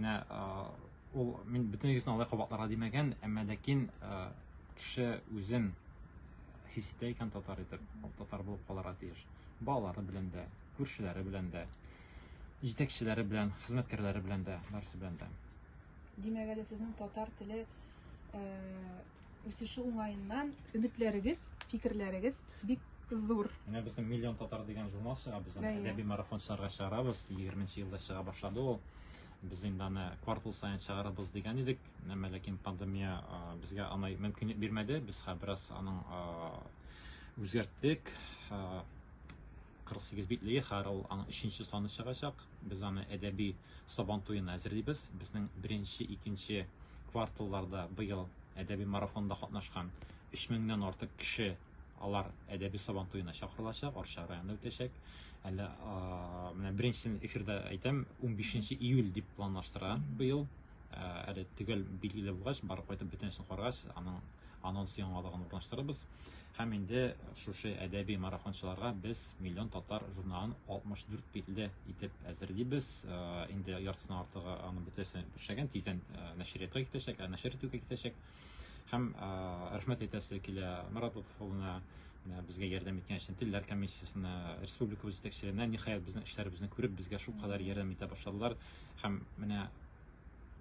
Менә ул мин бөтен егесен алай кабатларга димәгән, әмма ләкин кеше үзен хис итә икән татар итеп, ул татар булып калырга тиеш. Балалары белән дә, күршеләре белән дә, җитәкчеләре белән, хезмәткәрләре белән дә, барысы белән дә. Димәк әле сезнең татар теле Үсеше уңаеннан өметләрегез, фикерләрегез бик зур. Менә безнең миллион татар дигән журнал чыга, без аны әдәби марафон чыгарга чыгарабыз. 20 нче елда чыга башлады ул. Без инде аны квартал саен чыгарабыз дигән идек. Әмма ләкин пандемия безгә аны мөмкинлек бирмәде. Без хәзер бераз аның үзгәрттек. 48 битлеге хәзер ул аның 3 нче саны чыгачак. Без аны әдәби Сабан туена әзерлибез. Безнең беренче, икенче кварталларда быел әдәби марафонда катнашкан 3000 нән артык кеше алар әдәби Сабан туена чакырылачак, Арча районында үтәчәк. Әле менә беренчесен эфирда әйтәм, 15 июль дип планлаштыра быел. Ә, әле төгәл билгеле булгач, барып кайтып бөтенесен карагач, аның анонс яңалыгын урнаштырырбыз. Һәм инде шушы әдәби марафончыларга без Миллион татар журналын 64 телдә итеп әзерлибез. Ә, инде яртысына артыгы аны бөтенесен эшләгән, тиздән ә, нәшриятка китәчәк, ә нәшер итүгә китәчәк. Һәм рәхмәт әйтәсе килә Марат Лотыфовына, безгә ярдәм иткән өчен телләр комиссиясенә, республика җитәкчеләренә, ниһаять безнең эшләребезне күреп, безгә шул кадәр ярдәм итә башладылар. Һәм менә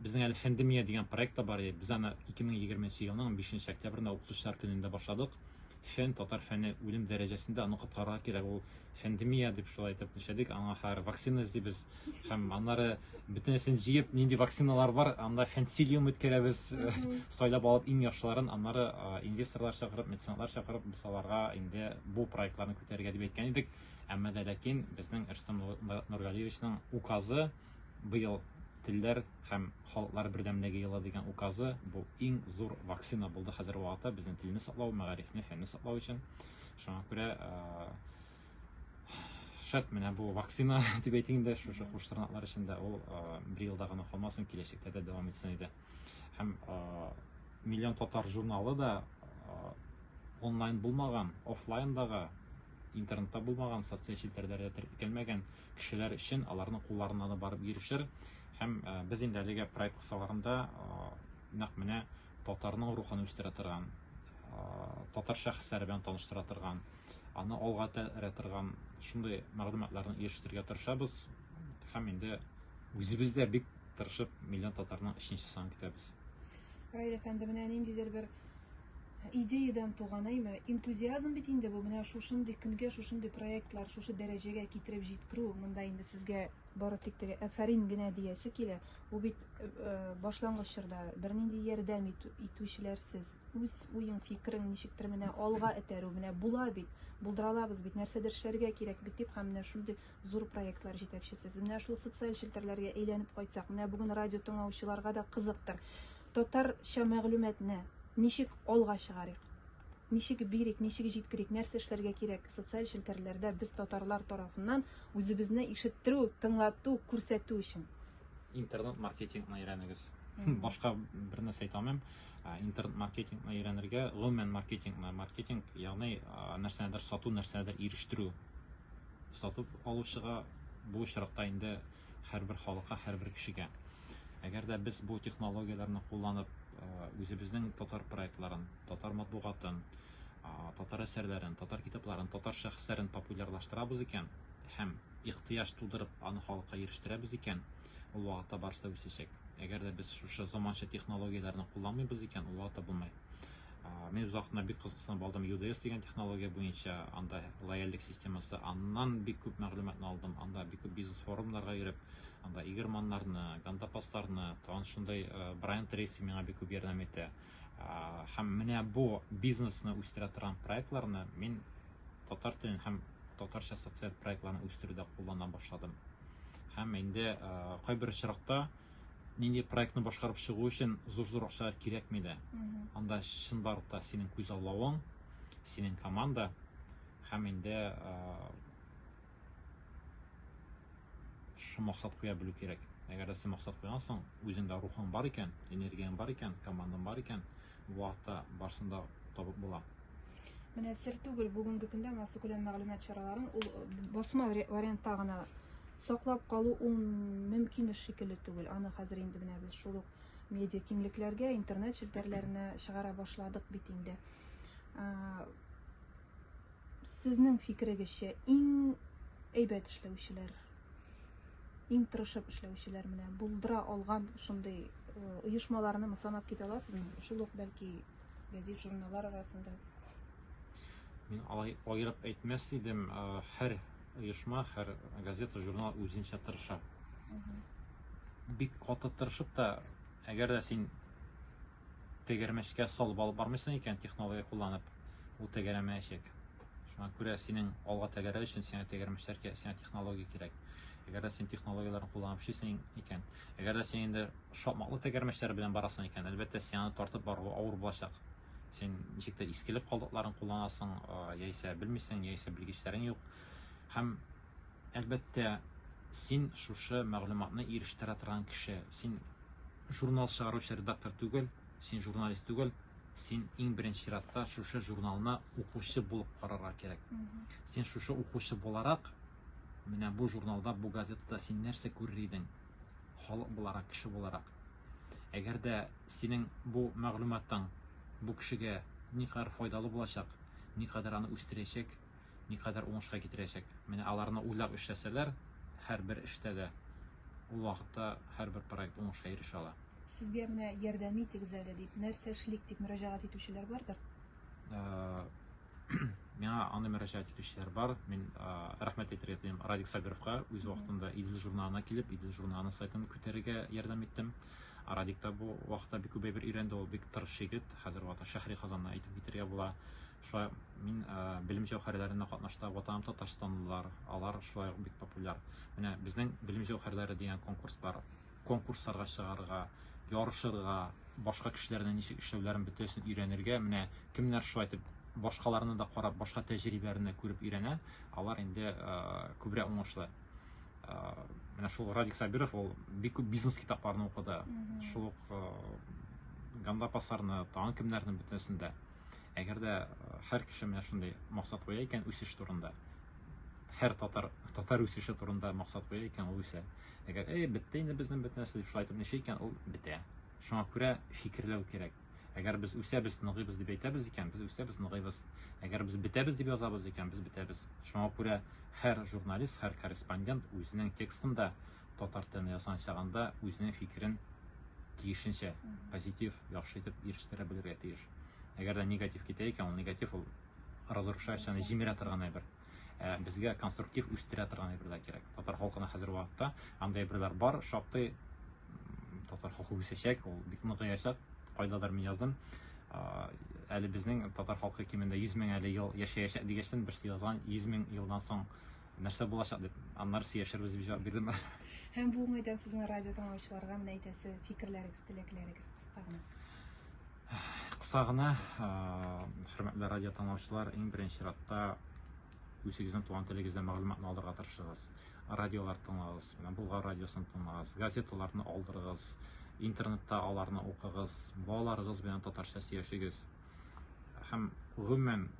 безнең әле Фәндемия дигән проект та бар, без аны 2020 елның 5 октябрендә укытучылар көнендә башладык. Фән, татар фәне үлем дәрәҗәсендә, аны коткарырга кирәк, ул фәндемия дип шулай итеп нишләдек, аңа хәзер вакцина эзлибез һәм аннары бөтенесен җыеп, нинди вакциналар бар, анда фәнсилиум үткәрәбез, сайлап алып иң яхшыларын, аннары инвесторлар чакырып, меценатлар чакырып, без аларга инде бу проектларны күтәрергә дип әйткән идек, әмма дә ләкин безнең Рөстәм Нургалиевичның указы, Быел телләр һәм халыклар бердәмлеге елы дигән указы бу иң зур вакцина булды хәзер вакытта безнең телне саклау, мәгарифне, фәнне саклау өчен. Шуңа күрә шәт менә бу вакцина дип әйтейин дә шушы куш тырнаклар эчендә ул бер елда гына калмасын киләчәктә дә дәвам итсен иде һәм миллион татар журналы да онлайн булмаган офлайндагы интернетта булмаган социаль челтәрләрдә теркәлмәгән кешеләр өчен аларның кулларына да барып ирешер. Һәм без инде әлеге проект кысаларында нәкъ менә татарның рухын үстерә торган, татар шәхесләре белән таныштыра торган, аны алга тәрә торган шундый мәгълүматларны ирештерергә тырышабыз. Һәм инде үзебез дә бик тырышып миллион татарның өченче санын көтәбез. Раил әфәнде, менә ниндидер бер идеядән туган, әйме? Энтузиазм бит инде бу, менә шушындый көнгә шушындый проектлар, шушы дәрәҗәгә китереп җиткерү, монда инде сезгә бары тик теге әфәрин генә диясе килә. Бу бит э, э, башлангыч чорда бернинди ярдәм итүчеләрсез. Үз уең, фикерең ничектер менә алга этәрү, менә була бит, булдыра алабыз бит, нәрсәдер эшләргә кирәк бит дип, һәм менә шундый зур проектлар җитәкчесез. Менә шул социаль челтәрләргә әйләнеп кайтсак, менә бүген радио тыңлаучыларга да кызыктыр. Татарча мәгълүматны ничек алга чыгарыйк? Ничек бирик, ничек җиткерик, нәрсә эшләргә кирәк? Социаль челтәрләрдә без татарлар тарафыннан үзебезне ишеттерү, тыңлату, күрсәтү өчен. Интернет маркетингны өйрәнегез. Башка бер нәрсә әйтә алмыйм. Ә, Интернет маркетингны өйрәнергә, гомумән маркетингны, маркетинг, ягъни а, нәрсәнедер сату, нәрсәнедер ирештерү. Сатып алучыга бу очракта инде һәрбер халыкка, һәрбер кешегә. Әгәр дә без бу технологияләрне кулланып, үзебезнең татар проектларын, татар матбугатын, татар әсәрләрен, татар китапларын, татар шәхесләрен популярлаштырабыз икән һәм ихтыяҗ тудырып, аны халыкка ирештерәбез икән, ул вакытта барысы да үсәчәк. Әгәр дә без шушы заманча технологияләрне кулланмыйбыз икән, ул вакытта булмый. Мин озакна бик кызыксынып алдым UDS дигән технология буенча, анда лояльлек системасы, аннан бик күп мәгълүматны алдым, анда бик күп бизнес форумнарга йөреп, анда игерманнарны, гандапасларны, тагын шундый Брайан Трейси миңа бик күп ярдәм итә. Һәм менә бу бизнесны үстерә торган проектларны мин татар телен һәм татарча социаль проектларны үстерүдә куллана башладым. Һәм инде кайбер очракта нинди проектны башкарып чыгу өчен зур-зур акчалар кирәкми дә. Анда чынбарлык та синең күзаллавың, синең команда һәм инде шушы максат куя белү кирәк. Әгәр дә син максат куйгансың, үзеңдә рухың бар икән, энергияң бар икән, командаң бар икән, Бу хакта барсын да табып була. Менә сер түгел, бүгенге көндә массакүләм мәгълүмат чараларын ул басма вариантта гына саклап калу ул мөмкин эш шикелле түгел. Аны хәзер инде менә без шул ук медиа киңлекләргә, интернет челтәрләренә чыгара башладык бит инде. Сезнең фикерегезчә, иң әйбәт эшләүчеләр, иң тырышып эшләүчеләр менә булдыра алган шундый оешмаларны санап китә аласызмы? Шул ук бәлки гәзит журналлар арасында. Мин алай аерып әйтмәс идем, һәр оешма, һәр газета, журнал үзенчә тырыша. Бик каты тырышып та, әгәр дә син Тәгәрмәчкә салып алып бармыйсың икән, технология кулланып, ул тәгәрәмәячәк. Шуңа күрә синең алга тәгәрәү өчен сиңа тәгәрмәчләр кирәк, сиңа технология кирәк. Әгәр дә син технологияләрне кулланып эшлисең икән, әгәр дә син инде шапмаклы тәгәрмәчләр белән барасың икән, әлбәттә, сиңа тартып бару авыр булачак. Син ничек тә искелек калдыкларын кулланасың, яисә белмисең, яисә белгечләрең юк. Һәм, әлбәттә, син шушы мәгълүматны ирештерә торган кеше. Син Журнал чыгаручы редактор түгел, син журналист түгел, син иң беренче чиратта шушы журналны укучы булып карарга кирәк. Син шушы укучы буларак, менә бу журналда, бу газетада син нәрсә күрер идең? Халык буларак, кеше буларак. Әгәр дә синең бу мәгълүматың бу кешегә никадәр файдалы булачак, никадәр аны үстерәчәк, никадәр уңышка китерәчәк. Менә аларны уйлап эшләсәләр, һәрбер эштә дә ул вакытта һәрбер проект уңышка ирешә ала. Сезгә менә ярдәм итегез әле дип, нәрсә эшлик дип мөрәҗәгать итүчеләр бардыр? Миңа аны мөрәҗәгать итүчеләр бар. Мин рәхмәт әйтергә телим Радик Сабировка. Үз вакытында Идел журналына килеп, Идел журналының сайтын күтәрергә ярдәм иттем. Радик та бу вакытта бик күп әйбер өйрәнде. Ул бик тырыш егет. Хәзер вакытта Шәһри Казанны әйтеп китергә була. Шулай ук мин белем җәүһәрләренә катнашта ватаным татарстанлылар, алар шулай ук бик популяр. Менә безнең белем җәүһәрләре дигән конкурс бар. Конкурсларга чыгарга, ярышырга, башка кешеләрнең ничек эшләүләрен бөтәсен өйрәнергә, менә кемнәр шулай итеп башкаларны да карап, башка тәҗрибәләрне күреп өйрәнә, алар инде күбрәк уңышлы. Менә шул Радик Сабиров ул бик күп бизнес китапларны укыды. Шул ук Ганда Пасарны, тагын кемнәрне бөтәсен дә. Әгәр дә һәр кеше менә шундый максат куя икән үсеш турында, һәр татар татар үсеше турында максат куя икән, ул үсә. Әгәр эй, бетте инде безнең бөтен нәрсә дип шулай итеп ничә икән, ул бетә. Шуңа күрә фикерләү кирәк. Әгәр без үсәбез, ныгыйбыз дип әйтәбез икән, без үсәбез, ныгыйбыз. Әгәр без бетәбез дип язабыз икән, без бетәбез. Шуңа күрә һәр журналист, һәр корреспондент үзенең текстында татар телендә язган чагында үзенең фикерен тиешенчә позитив яхшы итеп ирештерә белергә тиеш әгәр дә негатив китә икән ул негатив ул разрушающий җимерә торган әйбер ә безгә конструктив үстерә торган әйбер дә кирәк татар халкына хәзер вакытта андай әйберләр бар шактый татар халкы үсәчәк ул бик ныгыячак кайдадыр мин яздым әле безнең татар халкы кимендә 100 мең әле ел яшәячәк дигәчтен берсе язган 100 мең елдан соң нәрсә булачак дип, аннары сөйләшербез дип җавап бирдем. Һәм бу уңайдан сезнең радио тыңлаучыларга менә әйтәсе фикерләрегез, теләкләрегез кыска гына. Кыска гына, хөрмәтле радио тыңлаучылар, иң беренче чиратта үзегезнең туган телегездә мәгълүматны алырга тырышыгыз. Радиолар тыңлагыз, менә Болгар радиосын тыңлагыз, газеталарны алдырыгыз, интернетта аларны укыгыз, балаларыгыз белән татарча сөйләшегез. Һәм гомумән